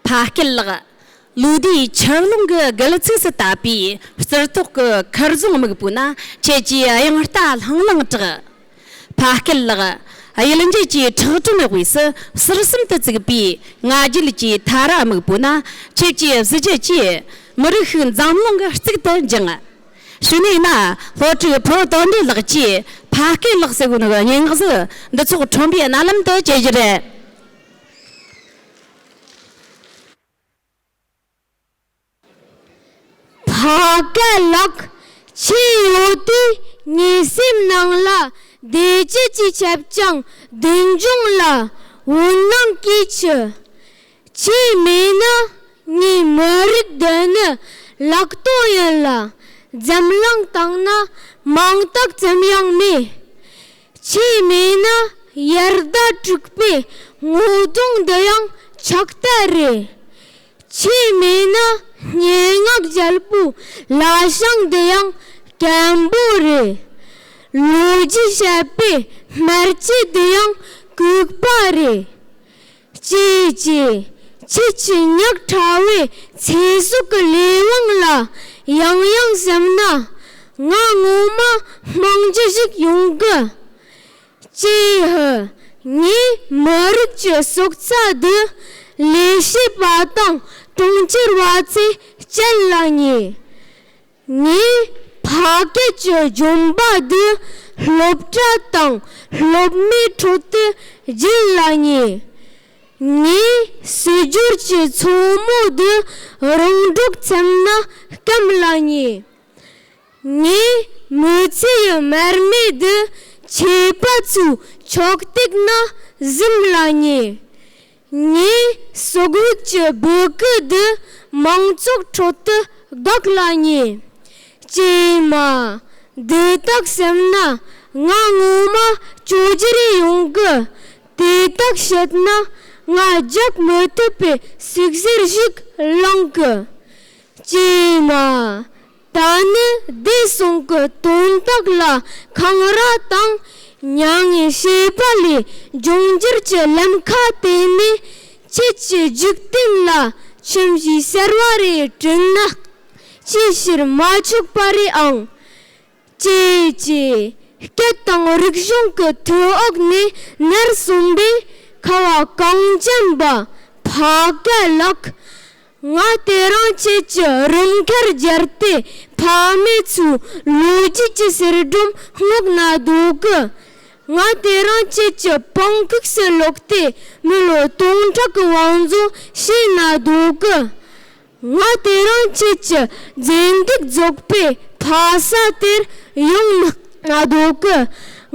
ཕ་སྐད་ལགས། ལོ་དེའི་ཆབ་ཀློང་གི་སྒལ་ཚིགས་སུ་བཏབ་པའི་རྩིར་ཏོག་གི་མཁར་རྫོང་སྨུག་པོ་ན་ཁྱེད་ཀྱིས་དབྱངས་རྟ་ལྷང་ལྷང་གྲགས། ཕ་སྐད་ལགས། གཡུལ་འགྱེད་ཀྱི་ཁྲག་དྲོན་དབུས་སུ་ཟུར་གསུམ་དུ་བཙུགས་པའི་ང་རྒྱལ་གྱི་དྷ་ར་སྨུག་པོ་ན་ཁྱེད་ཀྱི་གཟི་བརྗིད་ཀྱིས་མི་རིགས་ཤིག་འཛམ་གླིང་གི་གཙུག་ཏུ་འགྱིང། ཕྱི་ནས་ན་ལྷོ་དྲུག་བོད་དོན་འདྲེ་ལགས་ཀྱིས་ཕ་སྐད་ལགས་སི་ཝུན་གྱི་སྙན་ངག་གཟུགས་འདི་ཚོགས་ཁྲོམ་པའི་རྣ་ལམ་དུ་སྐྱེལ་རྒྱུ་རེད། བ་ག་ལགས་ཁྱི་ཡོ་དུས་ངའི་སེམས་ནང་ལ་བདེ་སྐྱིད་ཀྱི་ཁྱབ་རྐྱང་བདུན་འབྱུང་ལ་འོད་སྣང་གིས་ཕྱུ། ཁྱི་མེད་ན་ངའི་མི་རིགས་འདི་ནི་ལག་སྟོང་ཡིན་ལ་འཛམ་གླིང་སྟེང་ན་མང་དག་ཙམ་ཡང་མེད། བྱས་མེད་ན་ཡར་ཟླ་དྲུག་པའི་ངོ་གདོང་འདི་ཡང་ཆགས་ལྟ་རེད། བྱས་མེད་ན་སྙན་ངག་རྒྱལ་པོའི་བླ་བྱང་འདི་ཡང་སྐམ་པོ་རེད། ལོ་རྒྱུས་བཤད་པའི་སྨར་ཁྱི་འདི་ཡང་ལྐུགས་པ་རེད། ཅི་བྱས་ཁྱེད་ཀྱི་ཉག་ཕྲ་བའི་ཚེ་སྲོག་གི་ལས་དབང་ལ་ཡང་ཡང་སེམས་ན། ང་ངོ་མ་དམངས་གཅེས་ཤིག་ཡོང་གི། ཀྱེ་ཧུ། ངས་མི་རིགས་ཀྱི་སྲོག་རྩ་འདི་ལས་བྱེད་པ་དང་གྲོང་ཁྱེར་བ་ཚོས་བསྐྱལ་ལ་ཉེ། ངས་ཕ་སྐད་ཀྱི་སྦྱོང་པ་འདི་སློབ་གྲྭ་དང་སློབ་མའི་ཁྲོད་དུ་སྦྱིན་ལ་ཉེ། ངས་སྲིད་འབྱོར་གྱི་མཚོ་མོ་འདི་རོང་འབྲོག་ཚང་ན་སྐམ་ལ་ཉེ། ངས་མི་ཚེ་ཡི་མར་མེ་འདི་ཆོས་པ་ཚོའི་ཕྱོགས་སྟེགས་ན་གཟིམ་ལ་ཉེ། ངས་སོ་རྒོད་ཀྱི་སྦུ་གུ་འདི་མང་ཚོགས་ཁྲོད་དུ་བདག་ལ་ཉེ། ཀྱེ་མ། འདི་དག་སེམས་ན་ང་ངོ་མ་སྐྱོ་གྱི་རེ་ཡོང་གི། དེ་དག་བཤད་ན་ང་རྒྱག་མི་ཐུབ་པའི་སུག་གཟེར་ཞིག་བླངས་གི། ཀྱེ་མ། ད་ནི་བདེ་སྲུང་གི་དོན་དག་ལ་འཁང་ར་དང་མྱ་ངན་བྱས་པ་ལས་འབྱུང་འགྱུར་གྱི་ལམ་ཁ་དེ་ནི་ཁྱེད་ཀྱི་འཇིག་རྟེན་ལ་ཁྱིམ་གཞིས་ཟེར་བ་རེ་བསྐྲུན་ན་ཅིའི་ཕྱིར་མ་ཆོག་པ་རེད་ཨང། ཀྱེ་ཀྱེ། སྐད་དང་རིག་གཞུང་གི་ཐོད་འོག་ནས་ནར་སོན་པའི་ཁ་བ་གངས་ཅན་པ་ཕ་སྐད་ལགས། ང་ལྟོས་རང་བཅས་ཀྱི་རུམ་ཁར་སྦྱར་ཏེ་ཕ་མེས་ཚོའི་ལོ་རྒྱུས་ཀྱི་གསེར་སྒྲོམ་བསྔགས་ན་འདོད་གི། ང་ལྟོས་རང་བཅས་ཀྱི་པང་ཁུགས་སུ་ལོག་སྟེ་མི་ལོ་སྟོང་ཕྲག་གི་བང་མཛོད་བཤད་ན་འདོད་གི། ང་ལྟོས་རང་བཅས་ཀྱི་རྫས་འདེགས་རྫོགས་པའི་ཕ་ས་དེར་ཡོང་ན་འདོད་གི།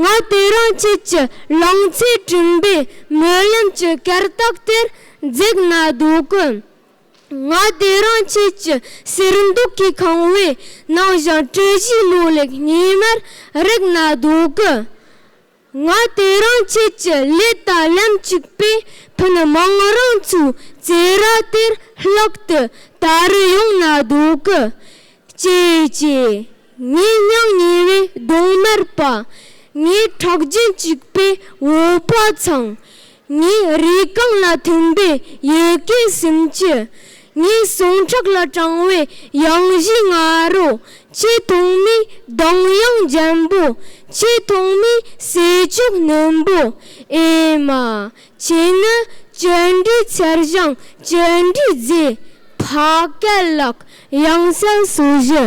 ང་ལྟོས་རང་བཅས་ཀྱི་ལང་ཚོའི་དྲིན་པའི་སྨོན་ལམ་གྱི་གར་སྟེགས་དེར་འཛེགས་ན་སྡུག་གི། ང་དེ་རང་ཁྱེད་ཀྱི་ཟེར་འདུག་གི་ཁང་བའི་ནང་བཞིན་གྲུ་བཞི་ལུག་ལེགས་ཉི་མར་རེག་ན་སྡུག་གི། ང་དེ་རང་ཁྱེད་ཀྱི་ལས་དང་ལམ་གཅིག་པའི་ཕུན་མང་རང་ཚུགས་རྩེ་ར་དེར་ལྷག་ཏུ་དར་རུ་ཡོང་ན་སྡུག་གི། ཅེས་ཅེས་ངའི་སྙིང་ཉེ་བའི་གདོང་དམར་པ། ངའི་ཁྲག་རྒྱུན་གཅིག་པའི་འོད་པ་ཚང། ངས་རི་སྒང་ལ་ཐིམ་པའི་ཡི་གེ་སུམ་ཅུ། ངའི་ཟུངས་ཁྲག་ལ་དྲངས་བའི་གཡང་གཞིའི་ང་རོ། ཆེ་མཐོང་མའི་གདངས་དབྱངས་འཇམ་པོ། ཆེ་མཐོང་མའི་ཟས་མཆོག་སྣུམ་པོ། ཨེ་མ། ཁྱེད་ནི་བཅུད་འདྲིས་མཚེར་བྱང་བཅུད་འདྲིས་རྫས། ཕ་སྐད་གླག་དབྱངས་གསལ་སོ་བཞི།